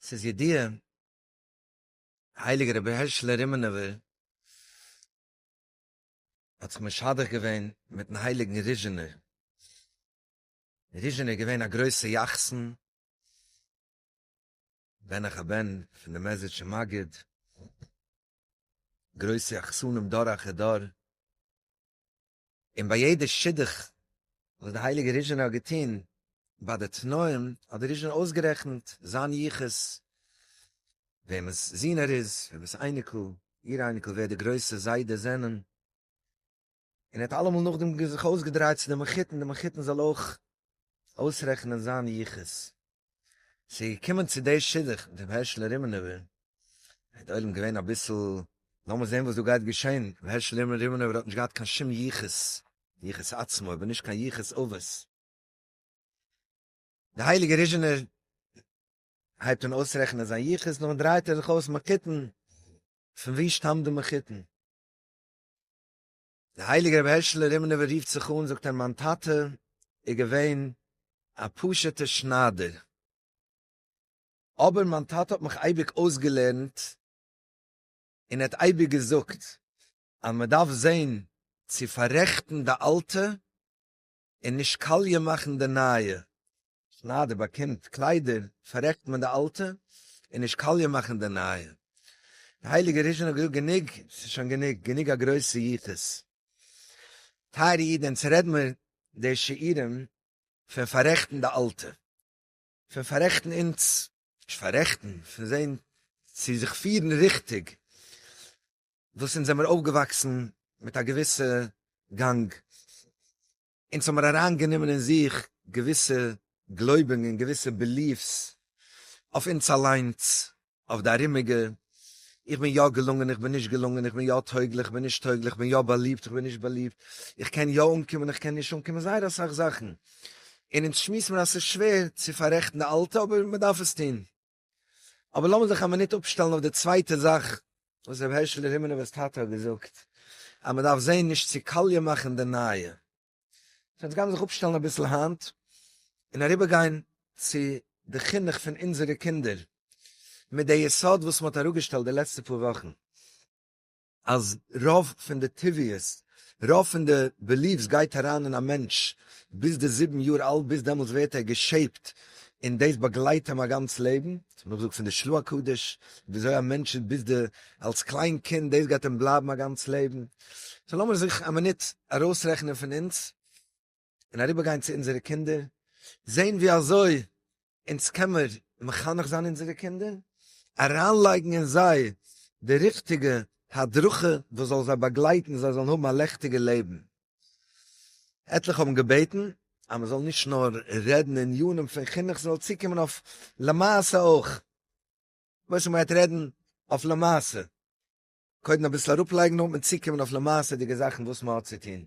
ס'איז ידיעה, הייליגער רבי הערשלע רימנובער האט זיך משדך געווען מיטן הייליגן ריזשינער, ריזשינער איז געווען א גרויסע יחסן, בן אחר בן פון די מעזריטשע מגיד, גרויסע יחסנים דור אחר דור, און ביי יעדע שידוך וואס די הייליגע ריזשענער האט געטון ביי די תנאים האט די ריזשענער אויסגערעכנט זיין יחוס וועמענס זון ער איז וועמענס אייניקל איר אייניקל ווער די גרויסע זיידעס זענען און ער האט אלעמאל נאכדעם זיך אויסגעדרייט צו די מחותן די מחותן זאל אויך אויסרעכענען זיין יחוס. ס'איז געקומען צו די שידוך מיט רבי הערשל רימנובער, איז די עולם געווען אביסל, לאמיר זען וואס דא גייט געשען, רבי הערשל רימנובער האט נישט געהאט קיין שום יחוס, יחוס עצמו, אבער נישט קיין יחוס אבות. די הייליגע ריזשינער הייבט אן אויסרעכענען זיין יחוס, נאכדעם דרייט ער זיך אויס מחותן, פון ווי שטאמט די מחותן? דער הייליגער רבי הערשלע רימנובער רופט זיך אן זאגט ער מיין טאטע איז געווען א פשוט'ער שניידער אבער מיין טאטע האט מיך אייביג אויסגעלערנט און ער האט אייביג געזאגט אז מען דארף זען צו פאררעכטן די אלטע און נישט קאליע מאכן די נייע. שניידער באקומט קליידער פארעכט מען די אלטע און נישט קאליע מאכן די נייע. די הייליגע ריזשין האט געזאגט גענוג ס'איז שוין גענוג, גענוג א גרויסע יחוס. טייערע אידען צו רעד מיר די שיעורים פון פארעכטן די אלטע, פון פארעכטן אונז, נישט פארעכטן, פון זעהן צו זיך פירן ריכטיג, וואס אונז זעמיר אויפגעוואקסן מיט א געוויסע גאנג, אונז האמיר אריינגענומען אין זיך געוויסע גלויבונגען, געוויסע בעליף'ס, אויף אונז אליינס, אויף די ארומיגע, איך בין יא געלונגען, איך בין נישט געלונגען, איך בין יא טויגליך, איך בין נישט טויגליך, איך בין יא באליבט, איך בין נישט באליבט, איך קען יא אנקומען, איך קען נישט אנקומען, זייער אסאך זאכן, און אונז שמועסט מיר אז ס'איז שווער צו פאררעכטן די אלטע, אבער מ'דארף עס טון. אבער לאמיר זיך א מינוט אפשטעלן אויף די צווייטע זאך וואס רבי הערשעלע רימינובער'ס טאטע האט געזאגט, אז מען דארף זען נישט צו קאליע מאכן די נייע. סאו יעצט גיימיר זיך אפשטעלן אביסל היינט, און אריבער גיין צו די חינוך פון אונזערע קינדער, מיט די יסוד וואס מען האט אראפגעשטעלט די לעצטע פאר וואכן. אז רוב פון די טבעיות, רוב פון די בעליווס גייט אריין אין א מענטש ביז די זיבן יאר אלט, ביז דעמאלטס ווערט ער געשעיפט און דאס באגלייט אים א גאנץ לעבן, ס'וועט מען אפזאגן פון די שלוה קודש, וויאזוי א מענטש איז ביז די אלס קליין קינד, דאס גייט אים בלייבן א גאנץ לעבן, סאו לאמיר זיך א מינוט ארויסרעכענען פון אונז. און אריבער גיין צו אונזערע קינדער, זען ווי אזוי אונז קען מיר מחנך זיין אונזערע קינדער, אריין לייגן אין זיי די ריכטיגע הדרכה וואס זאל זיי באגלייטן זיי זאלן האבן א לעכטיגע לעבן. עטליכע האבן געבעטן אז מען זאל נישט נאר רעדן עניינים פון חינוך, ס'זאל צוקומען אויף למעשה אויך, משה מ'גייט רעדן אויף למעשה, קודם אביסל אראפלייגן נאר וועט מען צוקומען אויף למעשה'דיגע זאכן וואס מ'האט צו טון.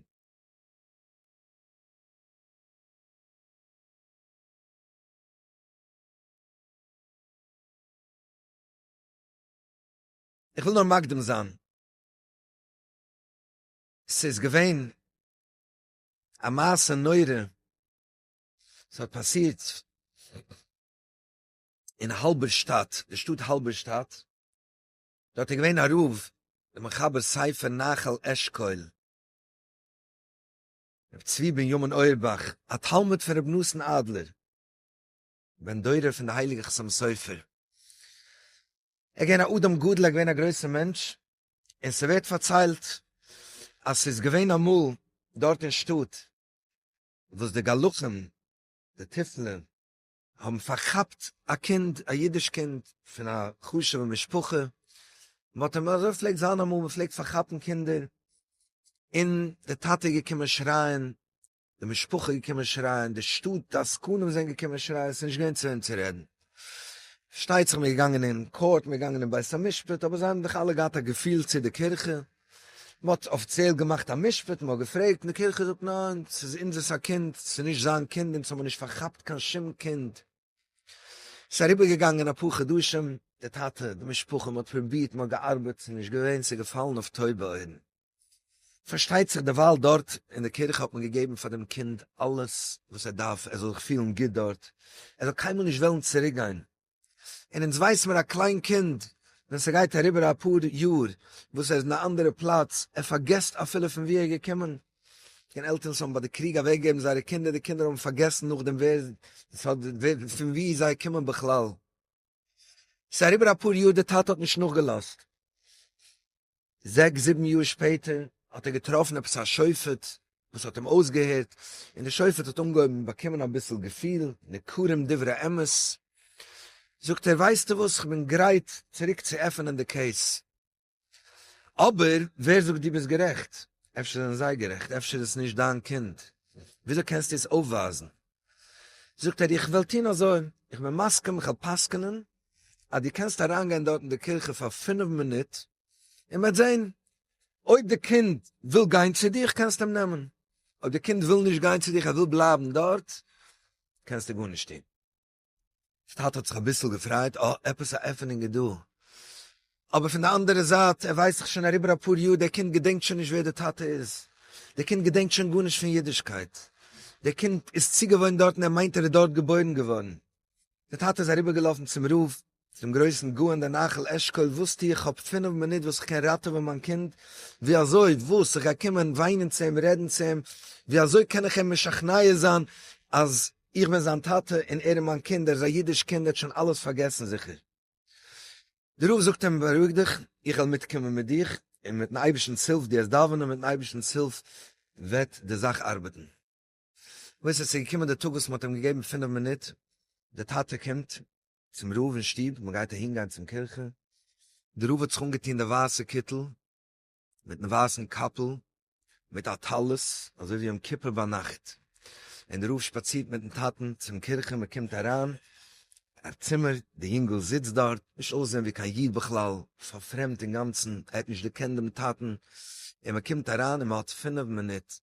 איך וויל נאר מקדים זיין, ס'איז געווען א מעשה נורא, ס'האט פאסירט אין האלבערשטאט, די שטאט האלבערשטאט, דארט איז געווען א רב, דער מחבר ספר נחל אשכול, ר' צבי בנימין אויערבאך, א תלמיד פון רבי נתן אדלער, בן דורו פון די הייליגע חתם סופר. ער געווען א אדם גדול, ער געווען א גרויסע מענטש, און ס'ווערט פארציילט אז ס'איז געווען אמאל דארט אין שטאט וואס די גלחים, די תיפלה, האבן פארכאפט א קינד, א אידיש קינד, פון א חשוב'ע משפחה, מען האט אים, אזוי פלעגט זיין אמאל, מען פלעגט פארכאפן קינדער, און די טאטע איז געקומען שרייען, די משפחה איז געקומען שרייען, די שטאט, די עסקנים זענען געקומען שרייען, עס איז נישט געווען צו וועם צו רעדן. פארשטייט זיך מען איז געגאנגען אין קאורט, מען איז געגאנגען אין בית המשפט, אבער זיי האבן דאך אלע געהאט א געפיל צו די קירכע, מ'האט אפיציעל געמאכט א משפט, מ'האט געפרעגט, און די קירכע זאגט ניין, ס'איז אונזערס א קינד, ס'איז נישט זיין קינד, אונז האמיר נישט פארכאפט קיין שום קינד. ס'איז אריבערגעגאנגען אפאר חדשים, די טאטע, די משפחה, מ'האט פרובירט, מ'האט געארבעט, ס'איז נישט געווען, ס'איז געפאלן אויף טויבע אויערן. פארשטייט זיך דערווייל דארט אין די קירכע האט מען געגעבן פאר דעם קינד אלעס וואס ער דארף, ער זאל זיך פילן גוט דארט, ער זאל קיינמאל נישט וועלן צוריקגיין, און אונז ווייס מיר א קליין קינד ווען ס'גייט אריבער אפאר יאר וואס ער איז אין א אנדערע פלאץ, ער פארגעסט אפילו פון ווי ער איז געקומען, און עלטערן וואס האבן ביי די קריג אוועק געגעבן זייערע קינדער, די קינדער האבן פארגעסן נאכדעם ווער ס'האט פון ווי זיי קומען בכלל. ס'איז אריבער אפאר יאר די טאטע האט נישט נאכגעלאזט. זעקס זיבן יאר שפעטער האט ער געטראפן עפעס א שופט וואס האט אים אויסגעהערט, און די שופט האט אנגעהויבן באקומען אביסל געפיל, ניכרים דברי אמת, זאגט ער ווייסטו וואס כ'בין גרייט צוריק צו עפענען די קעיס, אבער ווער זאגט דו ביסט גערעכט, אפשר זענען זיי גערעכט, אפשר איז עס נישט דיין קינד, וויאזוי קענסטו עס אויפווייזן, זאגט ער איך וועל טון אזוי, איך בין מסכים כ'וועל פסק'נען אז דו קענסט אריינגיין דארט אין די קירכע פאר פינף מינוט, און מ'וועט זען, אויב די קינד וויל גיין צו דיך קענסטו אים נעמען, אויב די קינד וויל נישט גיין צו דיך ער וויל בלייבן דארט, קענסטו גארנישט טון. די טאטע האט זיך אביסל געפרייט, אה, עפעס א עפענונג איז דא. אבער פון די אנדערע זייט, ער ווייסט דאך שוין אריבער אפאר יאר, דער קינד געדענקט שוין נישט ווער די טאטע איז, דער קינד געדענקט שוין גארנישט פון אידישקייט, דער קינד איז צוגעוואוינט דארט און ער מיינט ער איז דארט געבוירן געווארן. די טאטע איז אריבער געלאפן צום רב, צום גרויסן גאון דער נחל אשכול, וואס טו איך כ'האב פינעף מינוט וואס כ'קען ראטעווען מיין קינד, ווי אזוי, וואס, איך גיי קומען וויינען צו אים, רעדן צו אים, ווי אזוי קען איך אים משכנע זיין אז איך בין זיין טאטע און ער איז מיין קינד, ער איז א אידיש קינד, ער האט שוין אלעס פארגעסן זיכער. די רב זאגט אים בארואיג דיך, איך וועל מיט קומען מיט דיך, און מיטן אייבערשטנ'ס הילף, דו העסט דאווענען, מיטן אייבערשטנ'ס הילף וועט די זאך ארבעטן. וואס עס איז געקומען די טאג וואס מען האט אים געגעבן פינף מינוט, די טאטע קומט צום רב אין שטוב, מען גייט אהין גיין צום קירכע, די רב האט זיך אנגעטון די ווייסע קיטל, מיטן ווייסן קאפל, מיט א טלית, אזוי ווי יום כיפור ביינאכט, און די רב שפאצירט מיטן טאטן צום קירכע, מען קומט אריין אין צימער, די יונגל זיצט דארט, נישט אויסזען ווי קיין איד בכלל, פארפרעמדט אינגאנצן, ער האט נישט געקענט דעם טאטן, און מען קומט אריין און מען האט פינף מינוט,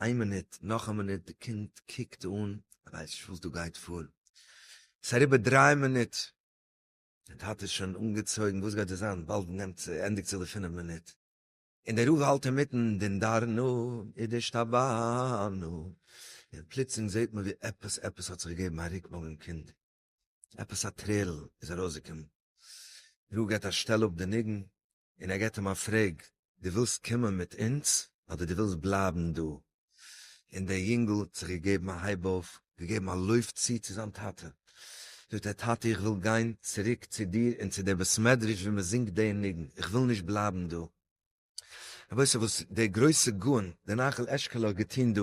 איין מינוט, נאך א מינוט, די קינד קוקט אן, ער ווייסט נישט וואס דא גייט פאר, עס איז אריבער דריי מינוט, דער טאטע איז שוין אנגעצויגן, וואס גייט דא זיין, באלד נעמט זיך, ענדיגט זיך די פינף מינוט, און דער רב האלט אינמיטן דין דרנו ונשתבענו, און פלוצלינג זעט מען ווי עפעס עפעס האט זיך געגעבן א רוק ביים קינד, עפעס א טרערל איז ארויסגעקומען, דער רב געבט א שטעל אפ די ניגון, און ער געט אים א פרעג, דו ווילסט קומען מיט אונז אדער דו ווילסט בלייבן דא? און דער יונגל האט זיך געגעבן א הייב אויף, געגעבן א לויף צו צו זיין טאטע, זאגט ער, טאטע איך וויל גיין צוריק צו דיר און צו דער בית מדרש ווי מען זינגט דער ניגון, איך וויל נישט בלייבן דא. רבותי וואס דער גרויסע גאון דער נחל אשכול האט געטון דא,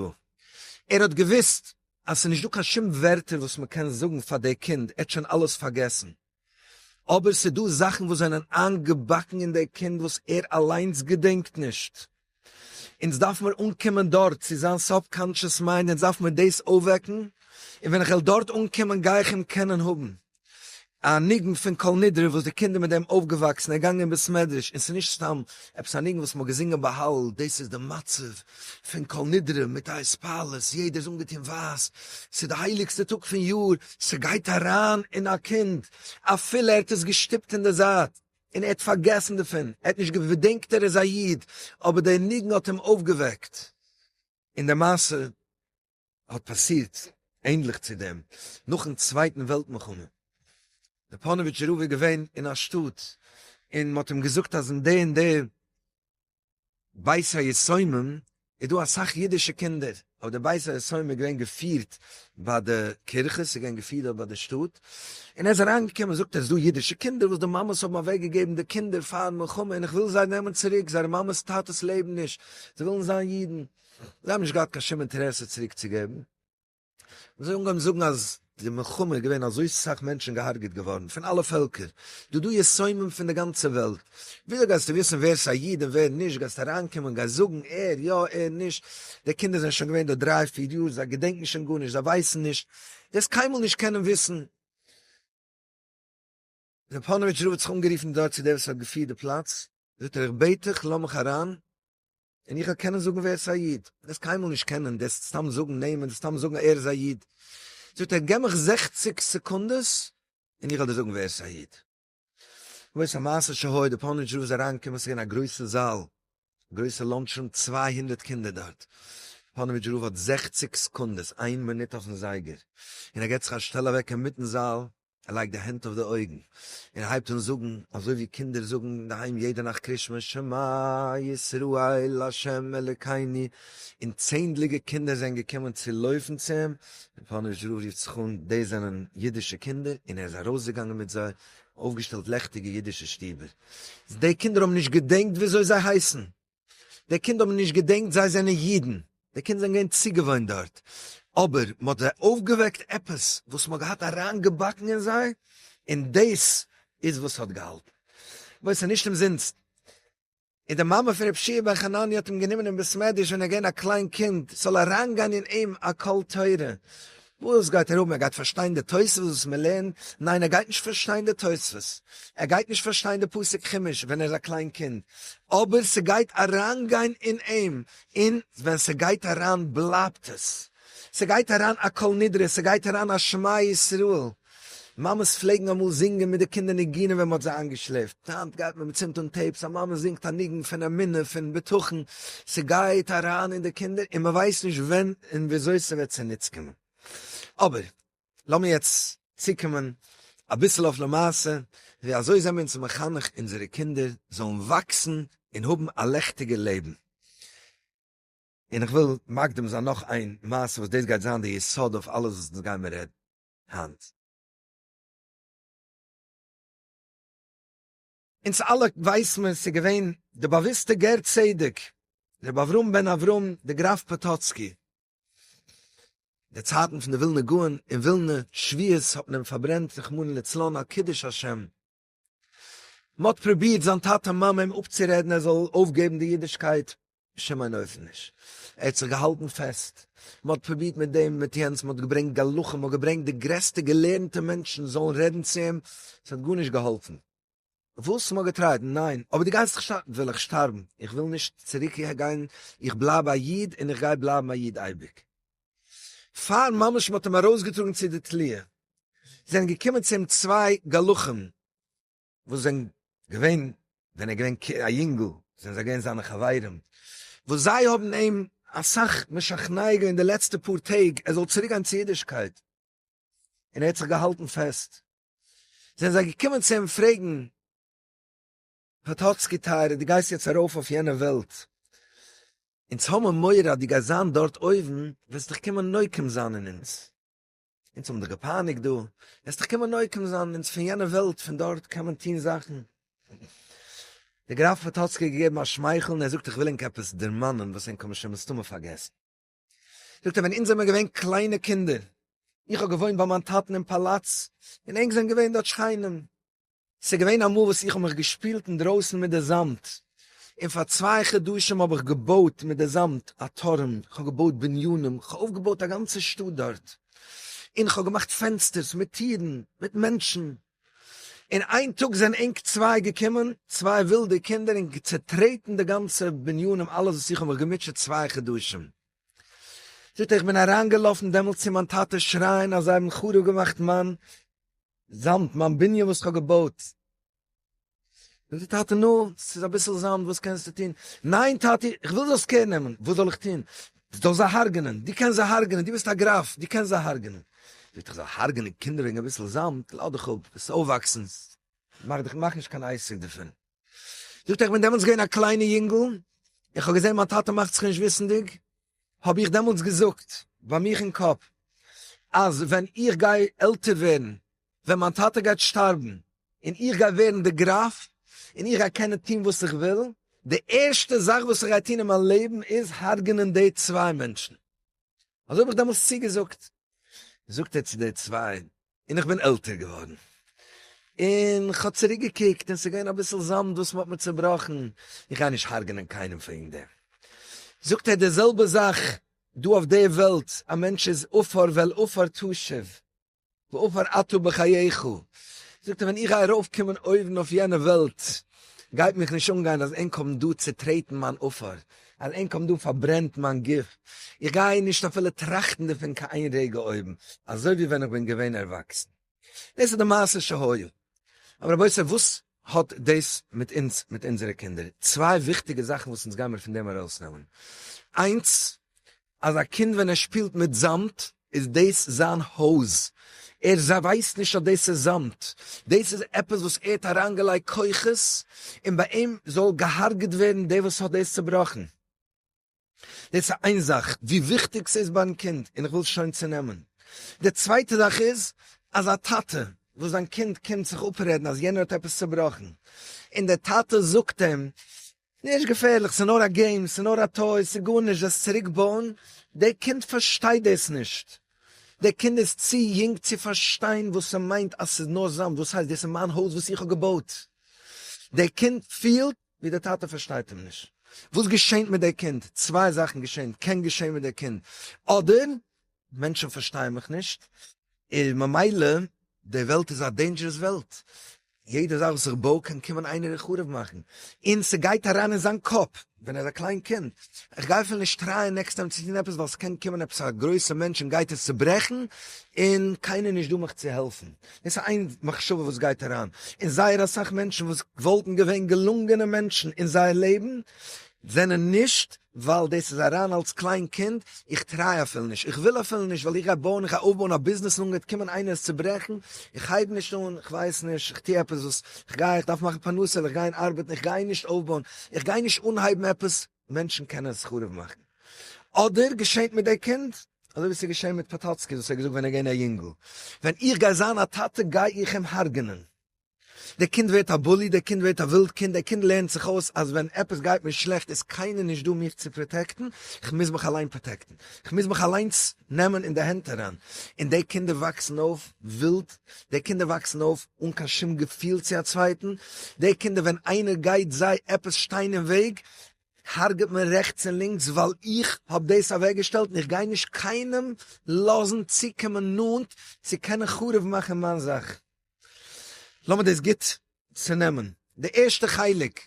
ער האט געוויסט אז ס'איז נישט דא קיין שום ווערטער וואס מען קען זאגן פאר דער קינד, ער האט שוין אלעס פארגעסן, אבער ס'דא זאכן וואס זענען איינגעבאקן אין דער קינד וואס ער אליינס געדענקט נישט. אונז דארף מיר אנקומען דארט, צו זיין סאבקאנטשעס מיינד, אונז דארף מיר דאס אויפוועקן, און ווען כ'וועל דארט אנקומען גיי איך אים קענען האבן. א ניגון פון כל נדרי וואס די קינדער מיט דעם אויפגעוואקסן, ער גאנגען אין בית מדרש, און ס'נישט סתם עפעס א ניגון וואס מ'האט געזינגען ביי הלל, דאס איז די מצב פון כל נדרי מיט א התפעלות, יעדער איז אנגעטון ווייס, ס'איז די הייליגסטע טאג פון יאר, ס'גייט אריין אין א קינד, אפילו ער האט עס געשטופט אין די זייט און ער האט פארגעסן דערפון, ער האט נישט געדענקט ער איז א איד, אבער דער ניגון האט אים אויפגעוועקט, און די מעשה האט פאסירט ענדליך צו דעם נאכן צווייטן וועלט מלחמה, דער פאנאוויטשער רב איז געווען אין א שטאט און מען האט אים געזאגט אז אין די און די בית היתומים איז דא אסאך אידישע קינדער, אבער די בית היתומים איז געווען געפירט ביי די קירכע, עס איז געווען געפירט דארט ביי די שטאט, און ער איז אריינגעקומען און זאגט עס איז דא אידישע קינדער וואס די מאמעס האבן אוועק געגעבן די קינדער פארן מלחמה און איך וויל זיי נעמען צוריק, זייערע מאמעס טאטעס לעבן נישט, זיי ווילן זיין אידן. זיי האבן נישט געהאט קיין שום אינטערעסע צוריק צו געבן, און זיי האבן אנגעהויבן זאגן אז די מלחמה איז געווען אזוי סאך מענטשן געהארגעט געווארן פון אלע פעלקער, דא דא יסומים פון די גאנצע וועלט, וויאזוי גייסטו וויסן ווער איז א איד און ווער נישט, גייסט אריינקומען גייסט זאגן ער יא ער נישט, די קינדער זענען שוין געווען דא דריי פיר יאר זיי געדענקן שוין גארנישט זיי ווייסן נישט, וועסט קיינמאל נישט קענען וויסן. ווען פאנאוויטש רב האט זיך אנגערופן דארט צו דער וואס האט געפירט די פלאץ, זאגט ער איך בעט דיך לאז מיך אריין און איך וועל קענען זאגן ווער עס איז א איד, וועסט קיינמאל נישט קענען, דערסט סתם זאגן נעמען, דערסט סתם זאגן ער איז א איד, זאגט ער גיב מיך זעכציק סעקונדעס און איך וועל דיר זאגן ווער עס איז א איד. וואס א מעשה שהיה, דער פאנאוויטש רב איז אריינגעקומען, עס איז געווען א גרויסע זאל, א גרויסע לאנטש רום, צוויי הונדערט קינדער דארט, פאנאוויטש רב האט זעכציק סעקונדעס, איין מינוט אויפן זייגער, און ער געט זיך א שטעל אוועק אינמיטן זאל, ער לייגט די הענט אויף די אויגן און הייבט אן זאגן אזוי ווי קינדער זאגן אינדערהיים יעדע נאכט קרישמע שמע ישראל ה' אלקינו און צענדליגע קינדער זענען געקומען צו לויפן צו אים און פאנעט זשרוב רופט זיך אן דאס זענען אידישע קינדער און ער איז ארויסגעגאנגען מיט זיי און אויפגעשטעלט לעכטיגע אידישע שטובער די קינדער האבן נישט געדענקט וויאזוי זיי הייסן. די קינד האבן נישט געדענקט זיי זענען אידן, די קינד זענען געווען צוגעוואוינט דארט, אבער מען האט זיי אויפגעוועקט עפעס וואס מען האט געהאט אריינגעבאקן אין זיי, און דאס איז וואס ס'האט געהאלטן. בואו, ס'איז נישט אומזינסט. און די מאמע פון רבי שיע בן חנניה האט אים גענומען אין בית מדרש ווען ער איז געווען א קליין קינד, ס'זאל אריינגיין אין אים א קול תורה, וואס גייט ער האבן? ער גייט פארשטיין די תוספות וואס מען לערנט? ניין ער גייט נישט פארשטיין די תוספות, ער גייט נישט פארשטיין די פסוק חומש ווען ער איז א קליין קינד, אבער ס'גייט אריינגיין אין אים, און ווען ס'גייט אריין בלייבט עס, ס'גייט אריין א כל נדרי, ס'גייט אריין א שמע ישראל. מאמעס פלעגן אמאל זינגען מיט די קינדער ניגונים ווען מ'האט זיי איינגעשלעפט, היינט גייט מען מ'צינדט אן טעיפס, א מאמע זינגט א ניגון פון אמונה פון בטחון, ס'גייט אריין אין די קינדער און מ'ווייסט נישט ווען און וויאזוי ס'וועט צוניץ קומען. אבער לאמיר יעצט צוקומען אביסל אויף למעשה, ווי אזוי זעמיר אונז מחנך אונזערע קינדער זאלן וואקסן און האבן א לעכטיגע לעבן? און איך וויל מקדים זיין נאך איין מעשה וואס דאס גייט זיין די יסוד אויף אלעס וואס אונז גיימער רעדן. היינט. אונז אלע ווייס מען ס'איז געווען די באוויסטע גר צדק רבי אברהם בן אברהם די גראף פאטאצקי. די צייטן פון די ווילנע גאון אין ווילנע שביעית האט מען אים פארברענט רחמנא לצלן על קידוש השם. מ'האט פרובירט זיין טאטע מאמע אים אפצורעדן ער זאל אויפגעבן די אידישקייט, בשום אין אופן נישט, ער האט זיך געהאלטן פעסט, מ'האט פרובירט מיט דעם מיט יענץ, מ'האט געברענגט גלחים, מ'האט געברענגט די גרעסטע געלערנטע מענטשן זאלן רעדן צו אים, ס'האט גארנישט געהאלפן. וואס מ'האט געטרייט, ניין, אבער דו גייסט זיך שטארבן, וויל איך שטארבן, איך וויל נישט צוריק גיין, איך בלייב א איד און איך גיי בלייבן א איד אייביג. פאר ממש מ'האט אים ארויסגעטראגן צו די תליה, זענען געקומען צו אים צוויי גלחים, וואס זענען געווען, ווען ער איז געווען א יונגל, זענען זיי געווען זיינע חברים, וואס זיי האבן אים אסאך משכנע געווען די לעצטע פאר טעג ער זאל צוריק גיין צו אידישקייט, און ער האט זיך געהאלטן פעסט, זענען זיי געקומען צו אים פרעגן, פאטאצקי טייערע דו גייסט יעצט ארויף אויף יענע וועלט, אונז האבן מורא אז דו גייסט זיין דארט אויבן וועסט דיך קומען נוקם זיין אין אונז, אונז האבן דיך געפייניגט דא, וועסט דיך קומען נוקם זיין אין אונז פון יענע וועלט, פון דארט קען מען טון זאכן. דער גראף פאטאצקי האט געגעבן א שמייכל און ער זאגט איך וויל ענק עפעס דערמאנען וואס ענק האבן שוין מסתמא פארגעסן. זאגט ער ווען אונז זעמער געווען קליינע קינדער, איך האב געוואוינט ביי מיין טאטן אין פאלאץ, און ענק זענען געווען דארט שכנים, ס'איז געווען אמאל וואס איך האב מיך געשפילט אינדרויסן מיט די זאמד, און פאר צוויי חדשים האב איך געבויט מיט די זאמד א טורעם, כ'האב געבויט בנינים, כ'האב אויפגעבויט א גאנצע שטאט דארט, און כ'האב געמאכט פענסטערס מיט טירן, מיט מענטשן. און איין טאג זענען ענק צוויי געקומען, צוויי ווילדע קינדער, און צעטרעטן די גאנצע בנין און אלעס וואס איך האב מיך געמוטשעט צוויי חדשים. זאגט ער, איך בין אריינגעלאפן דעמאלטס צו מיין טאטע שרייען אז זיי האבן חרוב געמאכט מיין זאמד, מיין בנין וואס איך האב געבויט. זאגט די טאטע נו, ס'איז אביסל זאמד וואס קענסטו טון? ניין טאטי איך וויל זאלסט קער נעמען, וואס זאל איך טון? זאל זיי הארגענען, דו קענסט זיי הארגענען, דו ביסט א גראף, דו קענסט זיי הארגענען. זאגט איך זאל הארגענען קינדער וועגן אביסל זאמד? לאז דיך אפ, וועסט אויפוואקסן, מאך דיך מאך נישט קיין עסק דערפון. זאגט ער איך בין דעמאלטס געווען א קליינע יונגל, איך האב געזען מיין טאטע מאכט זיך נישט וויסנדיג, האב איך דעמאלטס געזאגט ביי מיך אין קאפ אז ווען איך גיי עלטער ווערן, ווען מיין טאטע גייט שטארבן און איך גיי ווערן די גראף און איך גיי קענען טון וואס איך וויל, די ערשטע זאך וואס איך גיי טון אין מיין לעבן איז הרג'נען די צוויי מענטשן. אזוי האב איך דעמאלס צוגעזאגט. זאגט ער צו די צוויי, און איך בין עלטער געווארן, און איך האב צוריק געקוקט און ס'איז געווען אביסל זאמד וואס מ'האט מיר צובראכן, איך גיי נישט הרג'נען קיינעם וועגן דעם. זאגט ער, די זעלבע זאך דא אויף די וועלט, א מענטש איז עפר ואל עפר תשוב, ועפר אתה בחייך, זאגט ער ווען איך גיי ארויף קומען אויבן אויף יענע וועלט, גייט מיך נישט אנגיין אז ענק האבן דא צוטרעטן מיין עפר, אז ענק האבן דא פארברענט מיין גוף, איך גיי נישט אפילו טראכטן דערפון קיין איין רגע אויבן, אזוי ווי ווען איך בין געווען ערוואקסן. דאס איז די מעשה שהיה. אבער רבותי וואס האט דאס מיט אונז מיט אונזערע קינדער? צוויי וויכטיגע זאכן וואס אונז גיימיר פון דעם ארויסנעמען. איינס, אז א קינד ווען ער שפילט מיט זאמד איז דאס זיין הויז, ער ווייסט נישט אז דאס איז זאמד, דאס איז עפעס וואס ער האט אריינגעלייגט כוחות, און ביי אים זאל געהארגעט ווערן דער וואס האט דאס צעבראכן. דאס איז איין זאך ווי וויכטיג ס'איז ביים קינד און איך וויל שוין צונעמען. די צווייטע זאך איז אז א טאטע וואס זיין קינד קומט זיך אפרעדן אז יענער האט עפעס צובראכן און דער טאטע זאגט אים נישט געפערליך ס'איז נאר א געים ס'איז נאר א טוי ס'איז גארנישט וועסט צוריק בויען, דער קינד פארשטייט דאס נישט, דער קינד איז צו יונג צו פארשטיין וואס ס'מיינט אז ס'איז נאר זיין וואס הייסט דאס איז מיין הויז וואס איך האב געבויט דער קינד פילט ווי די טאטע פארשטייט אים נישט וואס געשענט מיט די קינד, צוויי זאכן געשענט, קען געשען מיט די קינד, אדער מענטשן פארשטייען מיך נישט, און ממילא די וועלט איז א דעינדזשערעס וועלט, יעדע זאך וואס איך בוי קען קומען איינער און חרוב מאכן, און ס'גייט אריין אין זיין קאפ ווען ער איז א קליין קינד, איך גיי אפילו נישט טרייען נעקסט טיים צו טון עפעס ווייל ס'קען קומען עפעס א גרויסע מענטש און גייט עס צוברעכן, און קיינער נישט דא מיך צו העלפן. עס איז איין מחשבה וואס גייט אריין אין זייער אסאך מענטשן וואס וואלטן געווען געלונגענע מענטשן אין זייער לעבן זענען נישט ווייל דאס איז אריין אלס קליין קינד, איך טריי אפילו נישט, איך וויל אפילו נישט ווייל איך גיי בויען, איך גיי אויפבויען א ביזנעס און גייט קומען איינער עס צוברעכן, איך הייב נישט אן, איך ווייס נישט, איך טו עפעס וואס איך גיי, איך דארף מאכן פרנסה'ל, איך גיי אין ארבעטן, איך גיי נישט אויפבויען, איך גיי נישט אנהייבן עפעס. מענטשן קענען עס חרוב מאכן. אדער געשענט מיט די קינד, אזוי ווי ס'איז געשען מיט פאטאצקי וואס האט געזאגט ווען ער איז געווען א יונגל, ווען איך גיי זיין א טאטע גיי איך אים הרג'ענען. דער קינד ווערט א בולי, דער קינד ווערט א ווילד קינד, דער קינד לערנט זיך אויס אז ווען עפעס גייט מיר שלעכט איז קיינער נישט דא מיך צו פראטעקטן, כ'מוז מיך אליין פראטעקטן, כ'מוז מיך אליינס נעמען אין די הענט אריין, און די קינדער וואקסן אויף ווילד, די קינדער וואקסן אויף אן קיין שום געפיל צו א צווייטן, די קינדער ווען איינער גייט זיי עפעס שטיין אין וועג הרג'ט מען רעכטס און לינקס ווייל איך האב דאס אוועקגעשטעלט און איך גיי נישט קיינעם לאזן צוקומען נאנט צו קענען חרוב מאכן מיין זאך. לאמיר דאס גוט צונעמען, די ערשטע חלק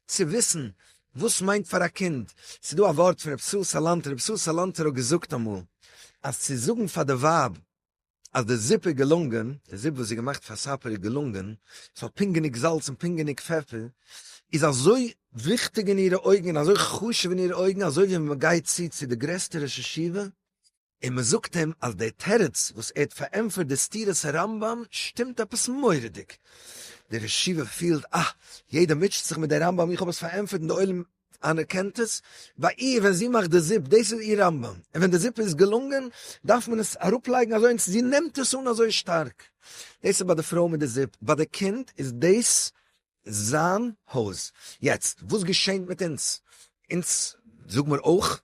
צו וויסן וואס מיינט פאר א קינד, ס'איז דא א ווארט פון רבי סאל סאלאנטער, רבי סאל סאלאנטער האט געזאגט אמאל אז צו זאגן פאר די ווייב אז די זופ איז געלונגען, די זופ וואס איז געמאכט פאר סאפער איז געלונגען, עס האט פונקט גענוג זאלץ און פונקט גענוג פעפער, איז אזוי וויכטיג אין אירע אויגן און אזוי חשוב אין אירע אויגן אזוי ווי ווען מען גייט צו צו די גרעסטע ראש ישיבה און מען זאגט אים אז די תירוץ וואס ער האט פארענטפערט די סתירות הרמב ם שטימט עפעס מורא'דיג, דער ראש ישיבה פילט אה, יעדער מוטשעט זיך מיט דער רמב ם איך האב עס פארענטפערט און די עולם אנערקענט עס, ביי איר ווען זי מאכט די זופ, דאס איז איר רמב ם, און ווען די זופ איז געלונגען, דארף מען עס אראפלייגן אזוי און זי נעמט עס אן אזוי שטארק. דאס איז ביי די פרוי מיט די זופ, ביי די קינד איז דאס זיין הויז. יעצט, וואס געשענט מיט אונז? אונז זאג מיר אויך.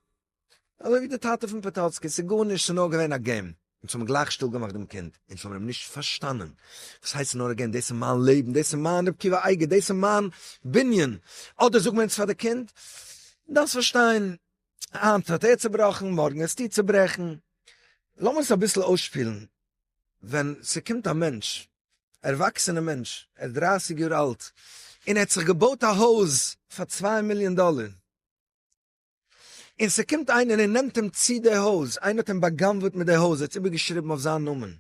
אזוי ווי די טאטע פון פאטאצקי, ס'איז גארנישט, ס'איז נאר געווען א געים, אונז האבן גלייך שטיל געמאכט דעם קינד, אונז האבן אים נישט פארשטאנען, וואס הייסט ס'איז נאר א געים, דאס איז מיין לעבן, דאס איז מיין רבקי ואייגער, דאס איז מיין בנין, אדער זאגן מיר אונז פאר די קינד, דו דארפסט פארשטיין, היינט האט ער צובראכן, מארגן וועסטו צוברעכן, לאמיר עס אביסל אויסשפילן, ווען ס'קומט א מענטש, א ערוואקסענע מענטש, ער איז דרייסיג יאר אלט, און ער האט זיך געבויט א הויז פאר צוויי מיליאן דאלער, און ס'קומט איינער און נעמט אים צו די הויז, איינער האט אים באגנב'עט מיט די הויז, ער האט עס איבערגעשריבן אויף זיין נאמען,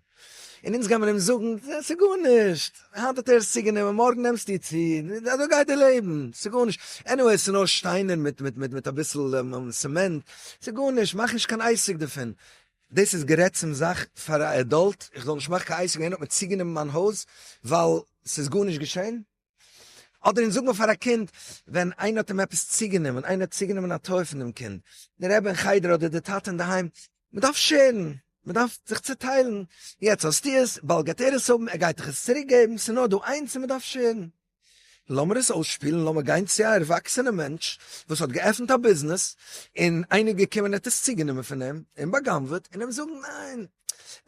און אונז גיימיר אים זאגן, ס'איז גארנישט, היינט האט ער עס צוגענומען, מארגן נעמסטו צו, אזוי גייט די לעבן, ס'איז גארנישט, עניוועי ס'איז נאר שטיינער מיט אביסל סעמענט, ס'איז גארנישט, מאך נישט קיין עסק דערפון. דאס איז גערעדט צום זאך פאר א עדאלט, איך זאל נישט מאכן קיין עסק, איינער האט מיר צוגענומען מיין הויז ווייל ס'איז גארנישט געשען? אדער אונז זאג מיר פאר א קינד ווען איינער האט אים עפעס צוגענומען, איינער האט צוגענומען א טוי פון דעם קינד, דער רבי אין חדר אדער דער טאטע אינדערהיים, מען דארף שערן, מען דארף זיך צוטיילן, יעצט האסטו עס, באלד גייט ער עס האבן, ער גייט דיך עס צוריק געבן, ס'איז נאר דא איינס און מען דארף שערן. לאמיר עס אויסשפילן, לאמיר גיין צו א ערוואקסענע מענטש וואס האט געעפנט א ביזנעס און איינער איז געקומען און ער האט עס צוגענומען פון אים און בא'גנב'עט און אים זאגן ניין,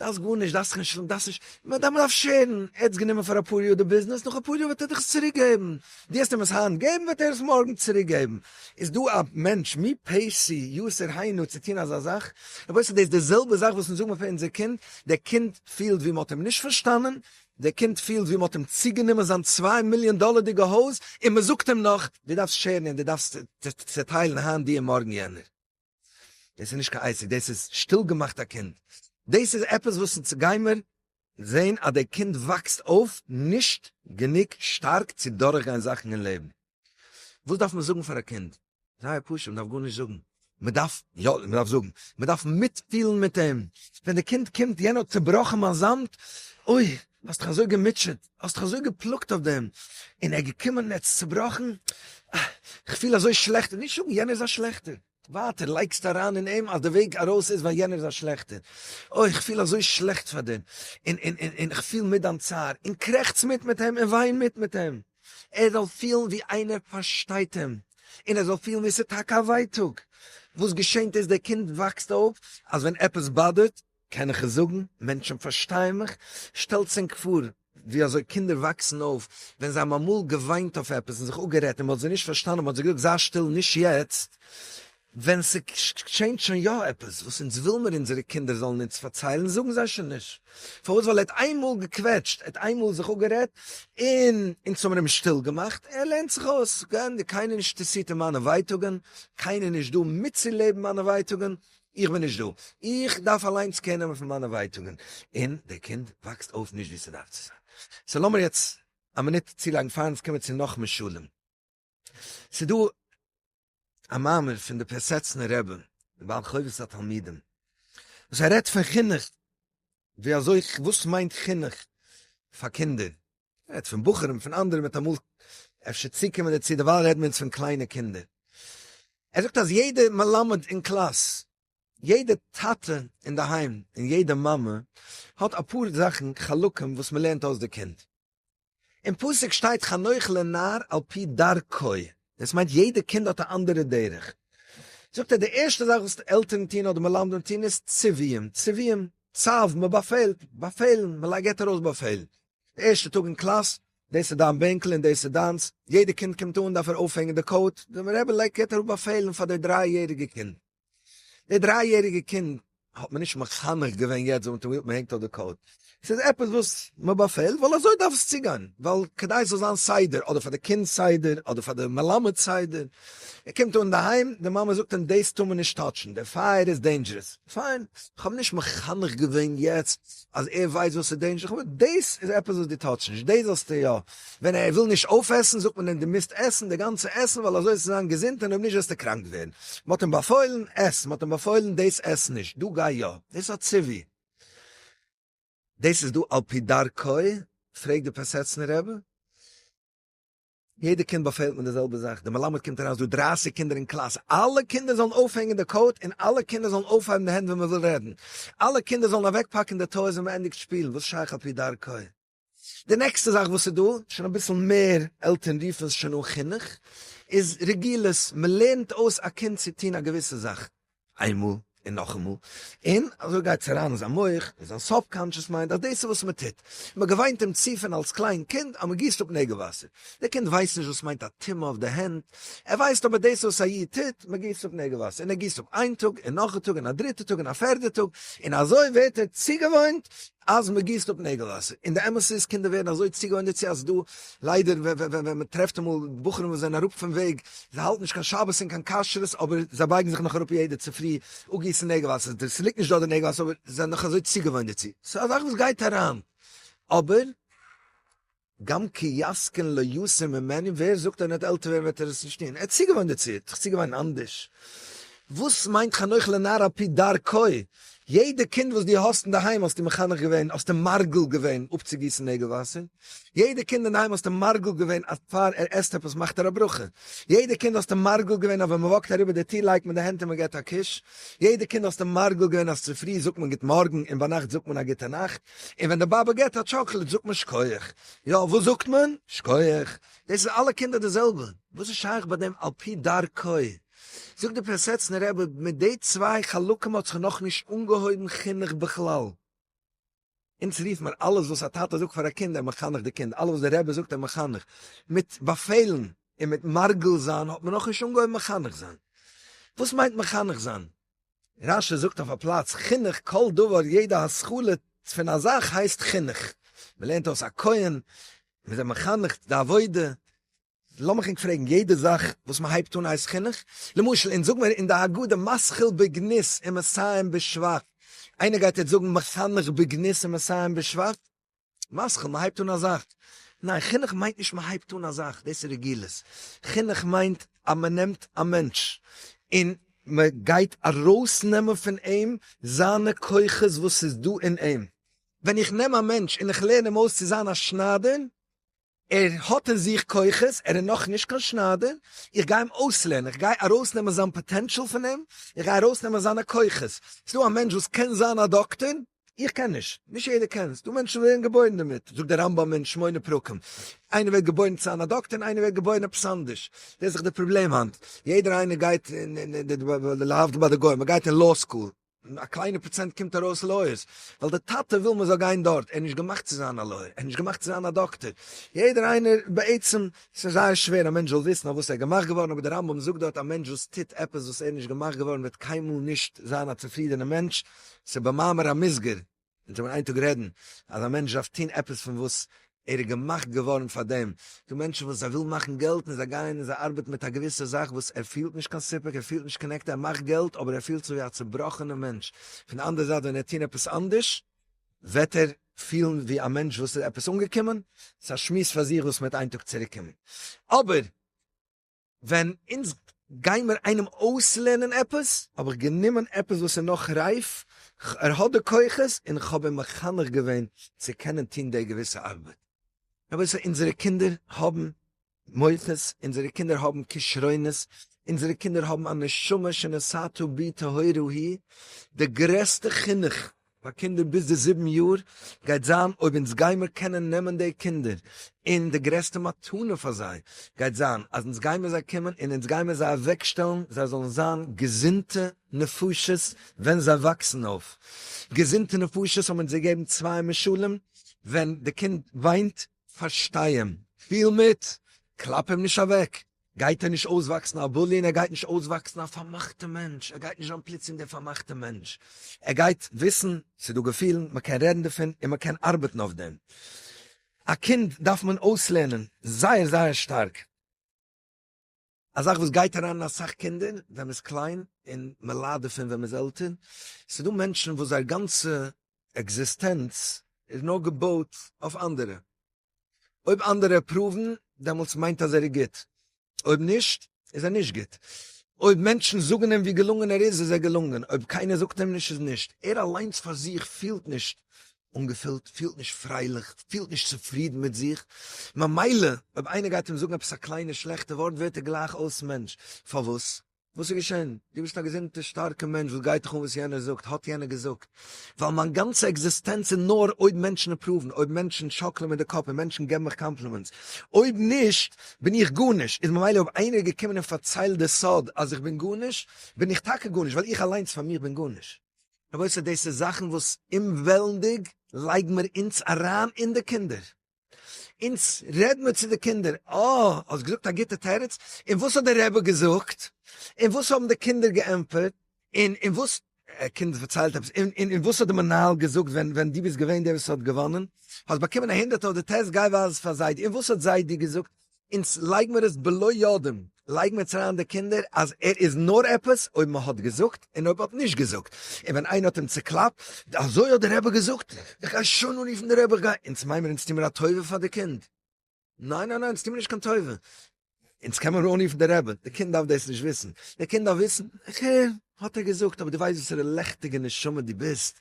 דארפסט גארנישט, דארפסט קיין שלום, דארפסט נישט, מען דארף מען דארף שעירן, ער האט עס גענומען פאר אפאר יאר די ביזנעס, נאך אפאר יאר וועט ער דיך עס צוריק געבן, דו האסט אים עס היינט געבן וועט ער עס מארגן צוריק געבן, איז דא א מענטש מי פעשי יסור היינו צו טון אזא זאך, רבותי ס'איז דאס די זעלבע זאך וואס אונז זאגן מיר פאר אונזער קינד, דער קינד פילט ווי מען האט אים נישט פארשטאנען, דער קינד פילט ווי מען האט אים צוגענומען זיין צוויי מיליאן דאלערדיגע הויז, און מען זאגט אים נאך, דו דארפסט שעירן און דו דארפסט צוטיילן היינט דו און מארגן יענער. דאס איז נישט קיין עסק, דאס איז שטיל געמאכט א קינד, דאס איז עפעס וואס אונז גיימער זען אז דער קינד וואקסט אויף נישט גענוג שטארק צו דורכגיין זאכן אין לעבן, וואס דארף מען זאגן פאר א קינד? זייער פשוט, מען דארף גארנישט זאגן, מען דארף, יא מען דארף זאגן, מען דארף מיטפילן מיט אים, ווען די קינד קומט יענער האט צובראכן מיין זאמד, אוי האסט דיך אזוי געמוטשעט, האסט דיך אזוי געפלאגט אויף דעם, און ער איז געקומען און ער האט עס צובראכן, איך פיל אזוי שלעכט, נישט זאגן יענער איז א שלעכטער, ווייטער לייגסטו אריין אין אים אז די וועג ארויס איז ווייל יענער איז א שלעכטער, אוי איך פיל אזוי שלעכט פאר דעם, און און און איך פיל מיט דיין צער, און קרעכץ מיט מיט אים, און וויין מיט מיט אים, ער זאל פילן ווי איינער פארשטייט אים, און ער זאל פילן ווי עס איז טאקע א ווייטאג, וואס געשענט איז דער קינד וואקסט אויף אז ווען עפעס באדערט קען איך עס זאגן? מענטשן פארשטייען מיך? שטעלטס ענק פאר ווי אזוי קינדער וואקסן אויף, ווען זיי האבן אמאל געוויינט אויף עפעס און זיך אפגערעדט און מען האט זיי נישט פארשטאנען, מען האט זיי געזאגט זיי שטיל נישט יעצט, ווען ס'גשענט שוין יא עפעס וואס אונז וויל מיר אונזערע קינדער זאלן אונז פארציילן זאגן זיי שוין נישט, פארוואס? ווייל ער האט איין מאל געקוועטשט, ער האט איין מאל זיך אפגערעדט און אונז האבן אים שטיל געמאכט, ער לערנט זיך אויס, גענדיגט, קיינער נישט אינטערסירט אין מיינע ווייטאגען, קיינער נישט דא מיטצולעבן מיינע ווייטאגען, איך בין נישט דא, איך דארף אליינס קער נעמען פון מיינע ווייטאגן, און דער קינד וואקסט אויף נישט ווי ס'דארף צו זיין. סאו לאמיר יעצט א מינוט צולייגן פאר אונז קומען צו נאך משלים. ס'איז דא א מאמר פון די פרעסעצנער רבי, די בעל חובת התלמידים, וואס ער רעדט פון חינוך, ווי אזוי, וואס מיינט חינוך פאר קינדער, מען רעדט פון בחורים פון אנדערע מיט אמאל אפשר צוקומען דערצו דערווייל רעדן מיר יעצט פון קליינע קינדער, ער זאגט אז יעדע מלמד אין קלאס, יעדע טאטע אינדערהיים און יעדע מאמע האט אפאר זאכן חלקים וואס מען לערנט אויס די קינד, אין פסוק שטייט חנוך לנער על פי דרכו, דאס מיינט יעדע קינד האט א אנדערע דרך, זאגט ער די ערשטע זאך וואס עלטערן טוהן אדער מלמדים טוהן איז ציוויים, ציוויים, צו, מען באפעלט, באפעלן, מען געט ארויס באפעלן, די ערשטע טאג אין קלאס, דאס איז דיין בענקל און דאס איז דיינס, יעדע קינד קומט אן דארף ער אויפהענגן די קאוט, די רבי לייגט געבט אראפ באפעלן פאר די דריי יעריגע קינד, די דריי יעריגע קינד האט מען נישט מחנך געווען יעצט ווען מען האט אים געזאגט מען הענגט אויף די קאוט, ס'איז עפעס וואס מען באפעלט ווייל אזוי דארף עס צוגיין, ווייל כדי עס זאל זיין סדר, אדער פאר די קינד סדר, אדער פאר די מלמד סדר, ער קומט אן אינדערהיים, די מאמע זאגט אים דאס טאר מען נישט טאטשן, די פייער איז דעינדזשערעס, פיין, איך האב נישט מחנך געווען יעצט אז ער ווייסט וואס איז דעינזשער, כ'מיין דאס איז עפעס וואס דו טארסט נישט, דאס זאלסטו יא, ווען ער וויל נישט אויפעסן זאגט מען אים דו מוזט עסן די גאנצע עסן ווייל אזוי וועסטו זיין געזונט און אויב נישט וועסטו קראנק ווערן, מען האט אים באפוילן עס, מען האט אים באפוילן דאס עס נישט, דא גיי יא, דאס איז א ציווי, דאס איז דא על פי דרכו, פרעג די פאסעצנער רבי. יעדע קינד באפעלט מיט די זעלבע זאך, די מלמד קומט אריין ס'דא דרײַסיק קינדער אין קלאס, אלע קינדער זאלן אויפהענגען די קאוט און אלע קינדער זאלן אויפהייבן די הענט ווען מ'וויל רעדן, אלע קינדער זאלן אוועקפאקן די טויס ווען מ'ענדיגט שפילן, וואס שייך על פי דרכו. די נעקסטע זאך וואס איז דא, שוין אביסל מער, עלטערן רופן עס שוין אן חינוך, איז רגילות, מ'לערנט אויס א קינד צו טון א געוויסע זאך, איינמאל און נאכאמאל, און אזוי גייט עס אריין אין זיין מח, אין זיין סאב-קאנטשעס מיינד, אז דאס איז וואס מען טוט. מען האט געוויינט אים צו פון אלס קליין קינד אז מען גיסט אפ נעגל וואסער. דער קינד ווייסט נישט וואס מיינט א טומאה אויף די הענט, ער ווייסט אבער דאס וואס א איד טוט, מען גיסט אפ נעגל וואסער, און ער גיסט אפ איין טאג, און נאך א טאג, און א דריטע טאג, און א פערדע טאג, און אזוי ווערט ער צוגעוואוינט, אז מען גיסט אפ נעגל וואסער, און די אמת איז קינדער ווערן אזוי צוגעוואוינט דערצו אז דא ליידער ווען מען טרעפט אמאל בחורים וואס זענען אראפ פון וועג, זיי האלטן נישט קיין שבת און קיין כשרות אבער זיי בייגן זיך נאך אראפ יעדע צופרי אפגיסן נעגל וואסער, די ס'ליגט נישט דארט די נעגל וואסער אבער זיי זענען נאך אזוי צוגעוואוינט דערצו, ס'איז א זאך וואס גייט אריין אבער. גם כי יזקן לא יסור ממני, ווער זאגט אז ווען ער וועט עלטער ווערן וועט ער עס נישט טון, ער האט צוגעוואוינט דערצו, ער האט זיך צוגעוואוינט אנדערש. וואס מיינט חנוך לנער על פי דרכו? יעדע קינד וואס דו האסט אינדערהיים האסטו מחנך געווען, האסטו מרגל געווען אפצוגיסן נעגל וואסער, יעדע קינד אינדערהיים האסטו מרגל געווען אז פאר ער עסט עפעס מאכט ער א ברכה, יעדע קינד האסטו מרגל געווען אז ווען מען וואקט אריבער די טיר לייגט מען די הענט און מען געבט א קוש, יעדע קינד האסטו מרגל געווען אז צופרי זאגט מען גוט מארגן און ביינאכט זאגט מען א גוטע נאכט. און ווען די באבע געט א טשאקלעד זאגט מען שקויעך. יא, וואס זאגט מען? שקויעך. דאס איז אלע קינדער די זעלבע. וואס איז שייך ביי דעם על פי דרכו? זאגט דער פיאסעצנער רבי, מיט די צוויי חלקים האט זיך נאך נישט אנגעהויבן חינוך בכלל. אונז רופט מען אלעס וואס א טאטע זאגט פאר א קינד ער מחנך די קינד, אלעס וואס דער רבי זאגט ער מחנך. מיט באפעלן און מיט מרגל זיין האט מען נאך נישט אנגעהויבן מחנך זיין. וואס מיינט מחנך זיין? רש י זאגט אויף א פלאץ חינוך כל דבר יעדע השכלה פון א זאך הייסט חינוך, מען לערנט אויס א כהן, מען איז עם מחנך די עבודה, לאמיך ענק פרעגן, יעדע זאך וואס מען הייבט אן הייסט חינוך? למשל אונז זאג מיר אין די הגדה משכיל בגנות ומסיים בשבח, איינער גייט יעצט זאגן מחנך בגנות ומסיים בשבח? מסכים, מען הייבט אן א זאך. ניין, חינוך מיינט נישט מען הייבט אן א זאך, דאס איז רגילות. חינוך מיינט אז מען נעמט א מענטש און מען גייט ארויסנעמען פון אים זיינע כוחות וואס איז דא אין אים. ווען איך נעם א מענטש און איך לערן אים אויס צו זיין א שניידער, ער האט אין זיך כוחות, ער איז נאך נישט קיין שניידער, איך גיי אים אויסלערנען, איך גיי ארויסנעמען זיין פאטענטשעל פון אים, איך גיי ארויסנעמען זיינע כוחות, ס'איז דא א מענטש וואס קען זיין א דאקטער, איך קען נישט, נישט יעדער קען, ס'איז דא מענטשן וואס ווערן געבוירן דערמיט, זאגט דער רמב ם אין שמונה פרקים, איינער ווערט געבוירן צו זיין א דאקטער און איינער ווערט געבוירן עפעס אנדערש, דאס איז דאך די פראבלעם היינט, יעדער איינער גייט, להבדיל ביי די גוים, מ'גייט אין לאו סקול, און א קליינע פראצענט קומט ארויס לויערס, ווייל די טאטע וויל מען זאל גיין דארט, ער איז נישט געמאכט צו זיין א לויער, ער איז נישט געמאכט צו זיין א דאקטער, יעדער איינער בעצם, ס'איז זייער שווער א מענטש זאל וויסן אויף וואס ער איז געמאכט געווארן, אבער די רמב ם זאגט דארט א מענטש וואס טוט עפעס וואס ער איז נישט געמאכט געווארן וועט קיינמאל נישט זיין א צופרידענע מענטש, ס'איז במאמר המוסגר. מען זאל איין טאג רעדן אז א מענטש דארף טון עפעס פון וואס ער איז געמאכט געווארן פאר דעם, דא מענטשן וואס זיי ווילן מאכן געלט און זיי גייען און זיי ארבעטן מיט א געוויסע זאך וואס ער פילט נישט קיין סיפוק, ער פילט נישט קאנעקטעד, ער מאכט געלט אבער ער פילט זיך ווי א צובראכענע מענטש, פון די אנדערע זייט ווען ער וועט טון עפעס אנדערש וועט ער פילן ווי א מענטש וואס איז עפעס אנגעקומען, ס'איז א שמועס פאר זיך וואס מען וועט איין טאג צוריקקומען, אבער. ווען אונז גיימער איינעם אויסלערנען עפעס, האב איך גענומען עפעס וואס איז נאך רייף, ער האט די כוחות, און איך האב אים מחנך געווען צו קענען טון די געוויסע ארבעט. רבותי, אונזערע קינדער האבן מוחות, אונזערע קינדער האבן כשרונות, אונזערע קינדער האבן א נשמה שנשאתו בי טהורה היא, די גרעסטע חינוך פאר קינדער ביז די זיבן יאר גייט זיין אויב אונז גיימער קענען נעמען די קינדער און די גרעסטע מתנה פאר זיי גייט זיין אז אונז גיימער זיי קומען און אונז גיימער זיי אוועק שטעלן זיי זאלן זיין געזונטע נפשות ווען זיי וואקסן אויף, געזונטע נפשות האבן אונז געגעבן צוויי משלים ווען די קינד וויינט פארשטיי אים, פיל מיט, קלאפ אים נישט אוועק. גייט ער נישט אויסוואקסן א בולי און ער גייט נישט אויסוואקסן א פארמאכטע מענטש, ער גייט נישט ווערן פלוצים דער פארמאכטע מענטש, ער גייט וויסן ס'איז דא געפילן, מען קען רעדן דערפון און מען קען ארבעטן אויף דעם. א קינד דארף מען אויסלערנען זייער זייער שטארק, א זאך וואס גייט אריין אין אסאך קינדער ווען מ'איז קליין און מען ליידט דערפון ווען מ'איז עלטער, ס'איז דא מענטשן וואס זייער גאנצע עקזיסטענץ איז נאר געבויט אויף אנדערע, אויב אנדערע עפראוון דעמאלטס מיינט אז ער איז גוט, אויב נישט איז ער נישט גוט, אויב מענטשן זאגן אים ווי געלונגען ער איז איז ער געלונגען, אויב קיינער זאגט אים נישט איז נישט, ער אליינס פאר זיך פילט נישט אנגעפילט, פילט נישט פרייליך, פילט נישט צופרידן מיט זיך, ממילא אויב איינער גייט אים זאגן עפעס א קליינע שלעכטע ווארט ווערט ער גלייך אויס מענטש, פארוואס? וואס איז געשען? דו ביסט א געזונטע שטארקע מענטש, וואס גייט דיך אן וואס יענער זאגט, האט יענער געזאגט? ווייל מיין גאנצע עקזיסטענץ איז נאר אויב מענטשן עפראוון, אויב מענטשן שאקלען מיט די קאפ און מענטשן געבן מיך קאמפלימענטס. אויב נישט, בין איך גארנישט. איז ממילא אויב איינער איז געקומען און פארציילט די סוד אז איך בין גארנישט, בין איך טאקע גארנישט, ווייל איך אליינס פאר מיך בין גארנישט. רבותי, דאס איז זאכן וואס אומוועלנדיג לייגן מיר אונז אריין און די קינדער. אונז רעד מיר צו די קינדער, אה, האסט געזאגט א גוטע תירוץ, און וואס האט די רבי געזאגט? און וואס האבן די קינדער געענטפערט? און און וואס, א קינד פארציילט עפעס, און און וואס האט די מנהל געזאגט ווען ווען דו ביסט געווען דער וואס האט געוואנען? האסט באקומען א הונדערט אויף די טעסט, גיי ווייז עס פאר זיידי, און וואס האט זיידי געזאגט? אונז לייג מיר עס בלא יודעים, לייג מיר עס אריין אין די קינדער אז ער איז נאר עפעס אויב מען האט געזאגט און אויב האט נישט געזאגט, און ווען איינער האט אים צוקלאפט, אזוי האט די רבי געזאגט, איך גיי שוין אנרופן די רבי, איך גיי, אונז מיין מיר אונז טו מיר א טובה פאר די קינד, ניין ניין ניין אונז טו מיר נישט קיין טובה, אונז קען מיר אנרופן די רבי, די קינד דארף דאס נישט וויסן, די קינד דארף וויסן איך הער. האט ער געזאגט, אבער דו ווייסט וואסערע לעכטיגע נשמה דו ביסט?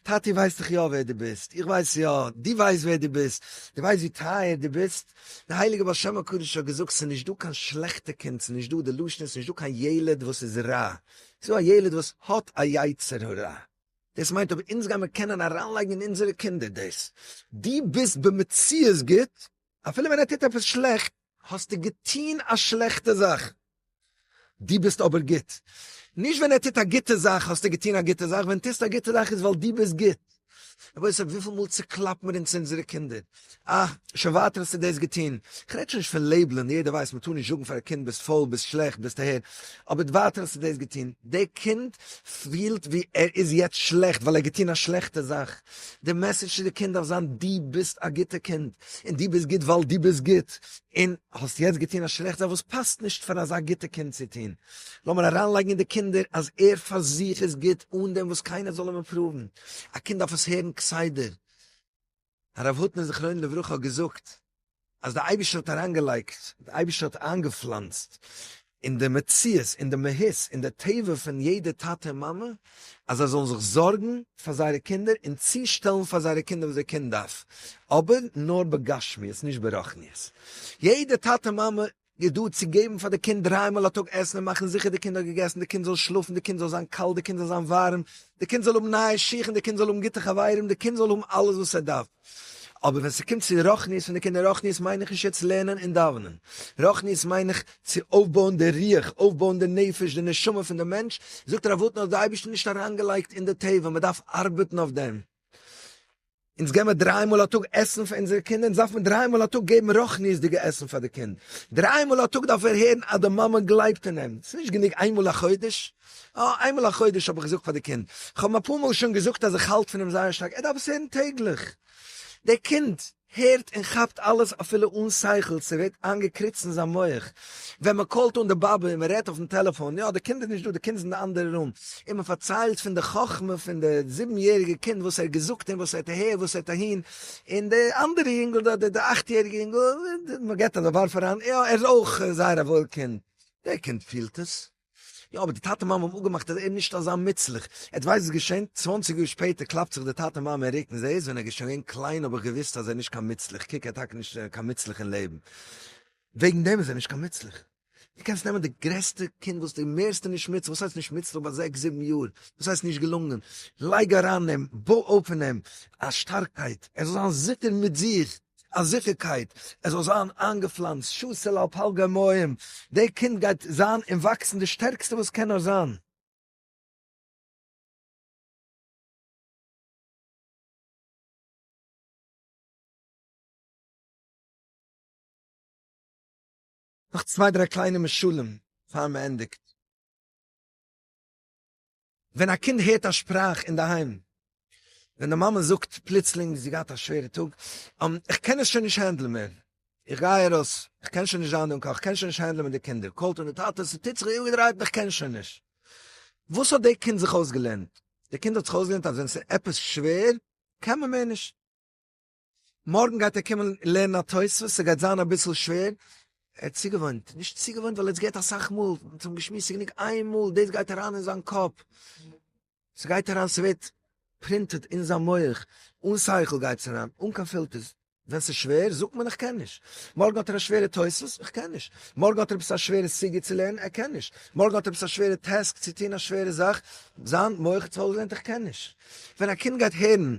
טאטי ווייסט דאך יא ווער דו ביסט, איך ווייס יא, דו ווייסט ווער דו ביסט, דו ווייסט ווי טייער דו ביסט, דער הייליגער בעל שם הקדוש האט געזאגט, ס'איז נישט דא קיין שלעכטע קינד, ס'איז נישט דא, די לשון איז, ס'איז נישט דא קיין ילד וואס איז רע, ס'איז דא א ילד וואס האט א יצר הרע, דאס מיינט אויב אונז גיימיר קענען אריינלייגן אין אונזערע קינדער דאס, דו ביסט במציאות גוט, אפילו ווען ער טוט עפעס שלעכט. האסטו געטון א שלעכטע זאך, דו ביסט אבער גוט. נישט ווען ער טוט א גוטע זאך האסטו געטון א גוטע זאך, ווען טוסט א גוטע זאך איז ווייל דו ביסט גוט. רבותי ס ה וויפיל מאל צוקלאפט מיר אונז אונזערע קינדער, אה, שוין ווייטער האסטו דאס געטון. כ'רעד שוין נישט פון לעיבלען, יעדער ווייסט מ'טאר נישט זאגן פאר א קינד ביסט פויל, ביסט שלעכט, ביסט אהער, אבער ווייטער האסטו דאס געטון. דער קינד פילט ווי ער איז יעצט שלעכט ווייל ער האט געטון א שלעכטע זאך. די מעסעדזש צו די קינד דארף זיין, דו ביסט א גוטע קינד, און דו ביסט גוט ווייל דו ביסט גוט, און האסט יעצט געטון א שלעכט זאך וואס פאסט נישט פאר אזא גוטע קינד צו טון. לאמיר אריינלייגן אין די קינדער אז ער פאר זיך איז גוט אן דעם וואס קיינער זאל אים אפראוון. א קינד דארף עס הערן כסדר. הרב הוטנער זכרונו לברכה האט געזאגט, אז די אייבישטער האט אריינגעלייגט, די אייבישטער האט איינגעפלאנצט אין די מציאות, אין די מהות, אין די טבע פון יעדע טאטע און מאמע, אז זיי זאלן זיך זארגן פאר זייערע קינדער און צושטעלן פאר זייערע קינדער וואס די קינד דארף, אבער נאר בגשמיות נישט ברחניות. יעדע טאטע מאמע איז דא צו געבן פאר די קינד דריי מאל א טאג עסן און מאכן זיכער די קינד האט געגעסן, די קינד זאל שלאפן, די קינד זאל זיין קאלט, די קינד זאל זיין ווארעם, די קינד זאל האבן נייע שיך און די קינד זאל האבן גוטע חברים, די קינד זאל האבן אלעס וואס ער דארף. אבער ווען ס'קומט צו רוחניות פון די קינדער, רוחניות מיין איך נישט יעצט לערנען און דאווענען, רוחניות מיין איך צו אויפבויען די רוח, אויפבויען די נפש, די נשמה פון די מענטש, זאגט ר' וואלף נאר האט די אייבערשטער נישט אריינגעלייגט אין די טבע, מ'דארף ארבעטן אויף דעם. אונז געבן דריי מאל א טאג עסן פאר אונזערע קינדער, אונז דארף מען דריי מאל א טאג געבן רוחניות'דיגע עסן פאר די קינד, דריי מאל א טאג דארף ער הערן אז די מאמע גלייבט אין אים, ס'איז נישט גענוג איין מאל א חודש, יא איין מאל א חודש האב איך געזאגט פאר די קינד, איך האב אים אפאר מאל שוין געזאגט אז איך האלט פון אים זייער שטארק, ער דארף עס הערן טעגליך, דער קינד. הערט און כאפט אלעס אפילו אן שכל, ס'ווערט איינגעקריצט אין זיין מח, ווען מ'קאלט אן די באבע און מ'רעדט אויפן טעלעפאן, יא די קינד איז נישט דא, די קינד איז אין די אנדערע רום, און מ'פארציילט פון די חכמה פון די זיבן יעריגע קינד וואס ער האט געזאגט און וואס ער האט אהער וואס ער האט אהין, און די אנדערע יונגל דארט די אכט יעריגע יונגל, מ'געט אזא ווארף אריין, יא ער איז אויך זייער א וואויל קינד, דער קינד פילט עס. יא אבער די טאטע מאמע האבן אפגעמאכט אז ער איז נישט אזא מוצלח, עטס ווייסט וואס איז געשען? צוואנציג יאר שפעטער קלאפט זיך די טאטע מאמע אין רוקן, זעה איז ווען ער איז שוין געווען קליין האב איך געוואוסט אז ער איז נישט קיין מוצלח, קוק ער איז טאקע נישט קיין מוצלח אין לעבן, וועגן דעם איז ער נישט קיין מוצלח. דו קענסט נעמען די גרעסטע קינד וואס די מערסטע נישט מוצלח, וואס הייסט נישט מוצלח ביי זעקס זיבן יאר, וואס הייסט נישט געלונגען, לייג אריין אין אים, בוי אויף אין אים א שטארקייט, ער זאל זיין זיכער מיט זיך, א זיכערקייט עס זאל זיין איינגעפלאנצט שסל על פלגי אמהעם, די קינד גייט זיין און וואקסן די שטערקסטע וואס קען נאר זיין. נאך צוויי דריי קליינע משלים פאר מען ענדיגט. ווען א קינד הערט א שפראך אינדערהיים, ווען די מאמע זאגט פלוצלינג זי האט געהאט א שווערע טאג, איך קען עס שוין נישט הענדלען מער, איך גיי ארויס, איך קען שוין נישט זיין דא אין קאך, איך קען שוין נישט הענדלען מיט די קינדער, קאלט אן די טאטע, ס'טוט זיך איבערגעדרייט און איך קען שוין נישט. וואס האט די קינד זיך אויסגעלערנט? די קינד האט זיך אויסגעלערנט אז ווען ס'איז עפעס שווער, קען מען מער נישט. מארגן גייט ער קומען לערנען א תוספות, ס'גייט זיין אביסל שווער, ער האט צוגעוואוינט, נישט צוגעוואוינט ווייל ער האט עס געהערט אסאך מאל, מען האט אים געשמועסט, ס'גענוג איין מאל, דאס גייט אריין אין זיין קאפ, ס'גייט אריין, ס'ווערט פרינטעד אין זיין מח, אן שכל גייט עס אריין, אן קיין פילטערס, ווען ס'איז שווער זאגט מען איך קען נישט, מארגן האט ער א שווערע תוספות, איך קען נישט, מארגן האט ער עפעס א שווערע סוגיא צו לערנען, ער קען נישט, מארגן האט ער עפעס א שווערע טעסק צו טון, א שווערע זאך, זיין מח האט עס אויסגעלערנט, איך קען נישט. ווען א קינד גייט הערן.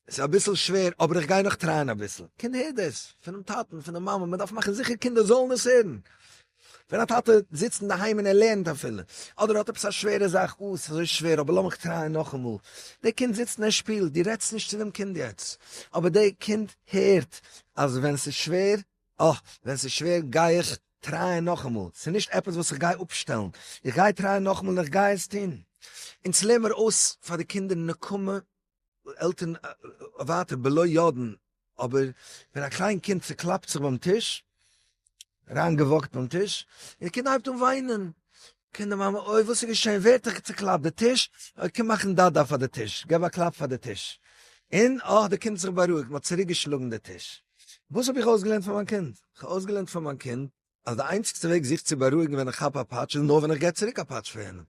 ס'איז אביסל שווער אבער איך גיי נאך טרייען אביסל. קינד הער דעס פונעם טאטן, פון די מאמע, מ'דארף מאכן זיכער קינדער זאלן עס הערן. ווען א טאטע זיצט אינדערהיים און ער לערנט אפילו, אדער ער האט עפעס א שווערע זאך, אוי ס'איז אזוי שווער אבער לאמיך טרייען נאכאמאל. דער קינד זיצט און ער שפילט, דו רעדסט נישט צו דעם קינד יעצט, אבער דער קינד הערט אז ווען ס'איז שווער, אה, ווען ס'איז שווער גיי איך טרייען נאכאמאל, ס'איז נישט עפעס וואס איך גיי אפשטעלן, איך גיי טרייען נאכאמאל און איך גיי עס טון. אונז לערן מיר אויס פאר די קינדער נקמה עלטערן ווייטער בלא יודען, אבער ווען א קליין קינד צוקלאפט זיך ביים טיש, אריין געוואקט ביים טיש, און די קינד הייבט אן וויינען, קומט די מאמע אוי וואס איז געשען, ווער האט דיך צוקלאפט, די טיש, אוי קום מאכן דא דא פאר די טיש, געב א קלאפ פאר די טיש, און אה די קינד האט זיך בארואיגט, מען האט צוריק געשלאגן די טיש. וואס האב איך אויסגעלערנט פאר מיין קינד? איך האב אויסגעלערנט פאר מיין קינד אז די איינציגסטע וועג זיך צו בארואיגן ווען איך כאפ א פאטש איז נאר ווען איך גיב צוריק א פאטש פאר יענעם.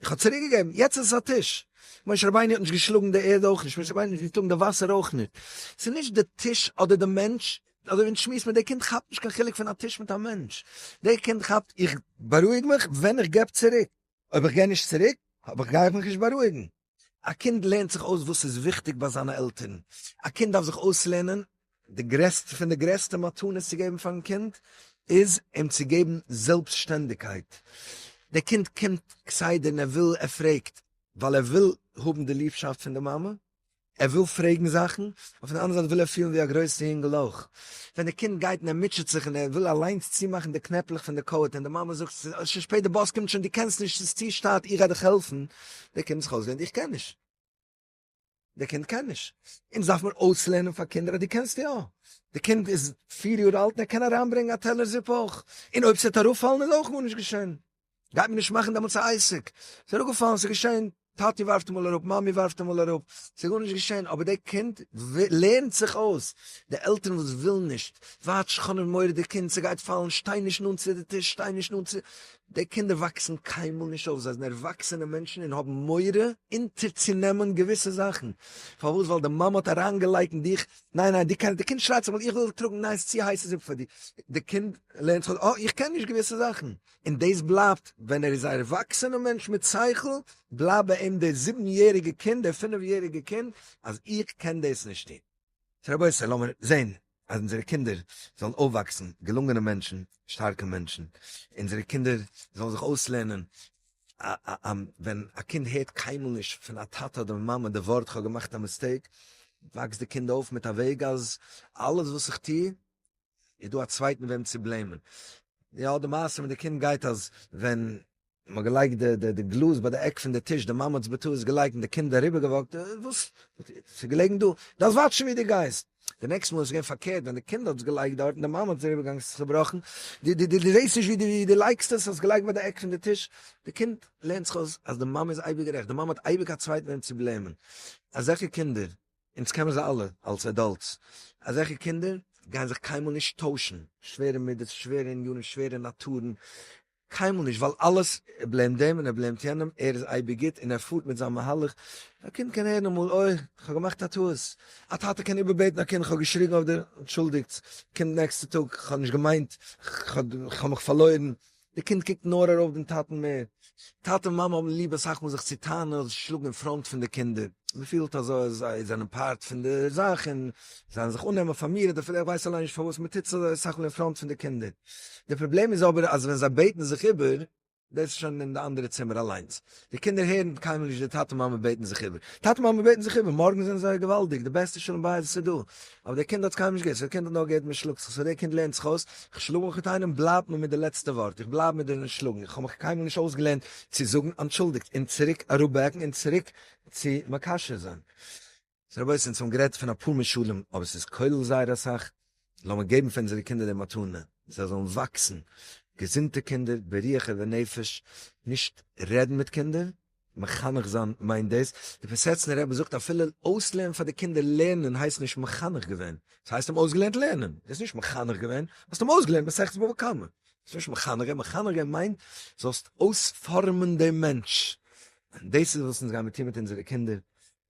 איך האב צוריק געגעבן, יעצט איז עס א טיש. משה רבינו האט נישט געשלאגן די ערד אויך נישט, משה רבינו האט נישט געשלאגן די וואסער אויך נישט. ס'איז נישט די טיש אדער די מענטש, אזוי ווי אונז שמועסן מיט די קינד כאפט נישט קיין חילוק פון א טיש מיט א מענטש. די קינד כאפט איך בארואיג מיך ווען איך געב צוריק, אויב איך גיי נישט צוריק האב איך גיי איך מיך נישט בארואיגן. א קינד לערנט זיך אויס וואס איז וויכטיג ביי זיינע עלטערן, א קינד דארף זיך אויסלערנען, די גרעסטע פון די גרעסטע מתנות צו געבן פארן קינד איז אים צו געבן זעלבסטשטענדיגקייט, דער קינד קומט כסדר און ער וויל, ער פרעגט ווייל ער וויל האבן די ליבשאפט פון די מאמע, ער וויל פרעגן זאכן, און פון די אנדערע זייט וויל ער פילן ווי א גרויסע יונגעל אויך, ווען דער קינד גייט און ער מוטשעט זיך און ער וויל אליינס צומאכן די קנעפלעך פון די קאוט און די מאמע זאגט ס'איז שוין שפעט די באס קומט שוין דו קענסט נישט ס'איז צו שטייט איך גיי דיך העלפן, דער קינד האט זיך אויסגעלערנט איך קען נישט. דער קינד קען נישט. אונז דארף מען אויסלערנען פאר קינדער אז דו קענסט יא. דער קינד איז פיר יאר אלט און ער קען אריינברענגען א טעלער זופ אויך. און אויב ס'וועט אראפפאלן איז אויך גארנישט געשען. גייט מען נישט מאכן דעמאלטס א עסק. ס'איז אראפגעפאלן, ס'איז געשען. טאטי ווארפט אמאל אראפ, מאמי ווארפט אמאל אראפ. ס'איז גארנישט געשען. אבער דער קינד לערנט זיך אויס. די עלטערן וואס ווילן נישט, ווייט שכנ'ן מורא די קינד, ס'גייט פאלן, שטיי נישט נאנט צו די טיש, שטיי נישט נאנט צו. די קינדער וואקסן קיינמאל נישט אויף, זיי זענען ערוואקסענע מענטשן און האבן מורא אונטערצונעמען געוויסע זאכן. פארוואס? ווייל די מאמע האט אריינגעלייגט אין דיך, ניין ניין, דו קענסט, די קינד שרייט זיך, איך וויל טראגן, ניין ס'איז צו הייסע זופ פאר דיר, די קינד לערנט זיך אויס, אה, איך קען נישט געוויסע זאכן, און דאס בלייבט, ווען ער איז א ערוואקסענע מענטש מיט שכל, בלייבט ביי אים די זיבן יעריגע קינד, די פינף יעריגע קינד, אז איך קען דאס נישט טון. סאו רבותי לאמיר זען אז אונזערע קינדער זאלן אויפוואקסן געלונגענע מענטשן, שטארקע מענטשן, אונזערע קינדער זאלן זיך אויסלערנען, ווען א קינד הערט קיינמאל נישט פון א טאטע אדער מאמע די ווארט כ'האב געמאכט א מיסטעיק, וואקסט די קינד אויף מיט א וועג אז אלעס וואס איך טו איז דא א צווייטן וועם צו בלעימען. יא די מעשה מיט די קינד גייט אז ווען מען האט געלייגט די די גלאז ביי די עק פון די טיש די מאמע האט עס בטעות געלייגט און די קינד אריבער געוואקט אה וואס ס'איז געלעגן דא דארפסט וואטשן ווי דו גייסט די נעקסט מאל איז עס געווען פארקערט ווען די קינד האט עס געלייגט דארט און די מאמע האט עס אריבער געלייגט איז עס צובראכן די די די זעסט נישט ווי ווי דו לייגסט עס האסט געלייגט ביי די עק פון די טיש די קינד לערנט זיך אויס אז די מאמע איז אייביג גערעכט די מאמע האט אייביג א צווייטן וועם צו בלעימען אזעלכע קינדער אונז קען מען זיי אלע אלס עדאלטס, אזעלכע קינדער גייען זיך קיינמאל נישט טוישן, שווערע מידות, שווערע ענינים, שווערע נאטורן, קיינמאל נישט, ווייל אלעס, ער בלעימט דעם און ער בלעימט יענעם, ער איז אייביג גוט און ער פארט מיט זיין מהלך, א קינד קען הערן אמאל, אוי, כ'האב געמאכט א טעות, א טאטע קען איבערבעטן א קינד, כ'האב געשריגן אויף דיר, אנטשולדיגטס, קומט נעקסטע טאג, כ'האב נישט געמיינט, כ'האב מיך פארלוירן, די קינד קוקט נאר ארויף דעם טאטן מער. טאטע און מאמע האבן ליב אסאך מאל זיך צו טענה'ן אדער צו שלאגן אין פראנט פון די קינדער. מען פילט אז זיי זענען פארט פון די זאך און זיי וועלן זיך אננעמען פאר מיר, אדער אפילו איך ווייס אליין נישט פארוואס מען טוט עס אזוי אסאך מאל אין פראנט פון די קינדער. דער פראבלעם איז אבער אז ווען זיי בעטן זיך איבער, דאס איז שוין אין די אנדערע צימער אליינס, די קינדער הערן קיינמאל נישט די טאטע מאמע בעטן זיך איבער, טאטע מאמע בעטן זיך איבער, מארגן זענען זיי געוואלדיג, די בעסטע שלום בית וואס איז דא, אבער דער קינד האט עס קיינמאל נישט געהערט, סאו דער קינד האט נאר געהערט מען שלאגט זיך, סאו דער קינד לערנט זיך אויס, כ'שלאג מיך מיט איינעם בלייבט מען מיט די לעצטע ווארט, איך בלייב מיט די שלאגן, איך האב מיך קיינמאל נישט אויסגעלערנט צו זאגן אנטשולדיגט און צוריק אראפבעקן און צוריק צו מקשר זיין. רבותי אונז האבן גערעדט פון אפאר משלים אבער ס'איז כולל זייער אסאך, לאמיר געבן פאר אונזערע קינדער די מתנה זיי זאלן וואקסן געזונטע קינדער ברוח ובנפש, נישט רעדן מיט קינדער, מחנך זיין מיינט דאס, די פיסעצנער רבי זאגט אפילו אויסלערנען פאר די קינדער לערנען הייסט נישט מחנך געווען, עס הייסט אים אויסגעלערנט לערנען, דו האסט נישט מחנך געווען, האסט אים אויסגעלערנט מסכת בבא קמא, דאס איז נישט מחנך געווען, מחנך געווען מיינט זאלסט אויספארמען דעם מענטש, און דאס איז וואס אונז גיימיר טון מיט אונזערע קינדער,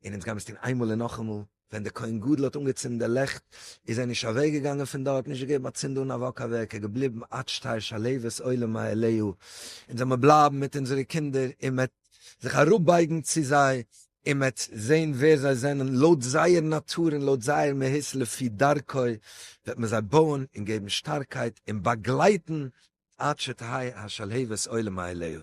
און אונז גייען עס טון איינמאל און נאכאמאל, ווען דער כהן גדול האט אנגעצינדן די לעכט, איז ער נישט אוועק געגאנגען פון דארט, נישט געגעבן א צינד אן א וואק אוועק, ער איז געבליבן עד שתעיר שלהבת עולם מאהליהו, אונז זאל מיר בלייבן מיט אונזערע קינדער, און מען וועט זיך אראפ בייגן צו זיי, און מען וועט זען ווער זיי זענען לויט זייער נאטור און לויט זייער מהות לפי דרכו, וועט מען זיי בויען און געבן שטארקייט און באגלייטן עד שתהי' השלהבת עולם מאהליהו.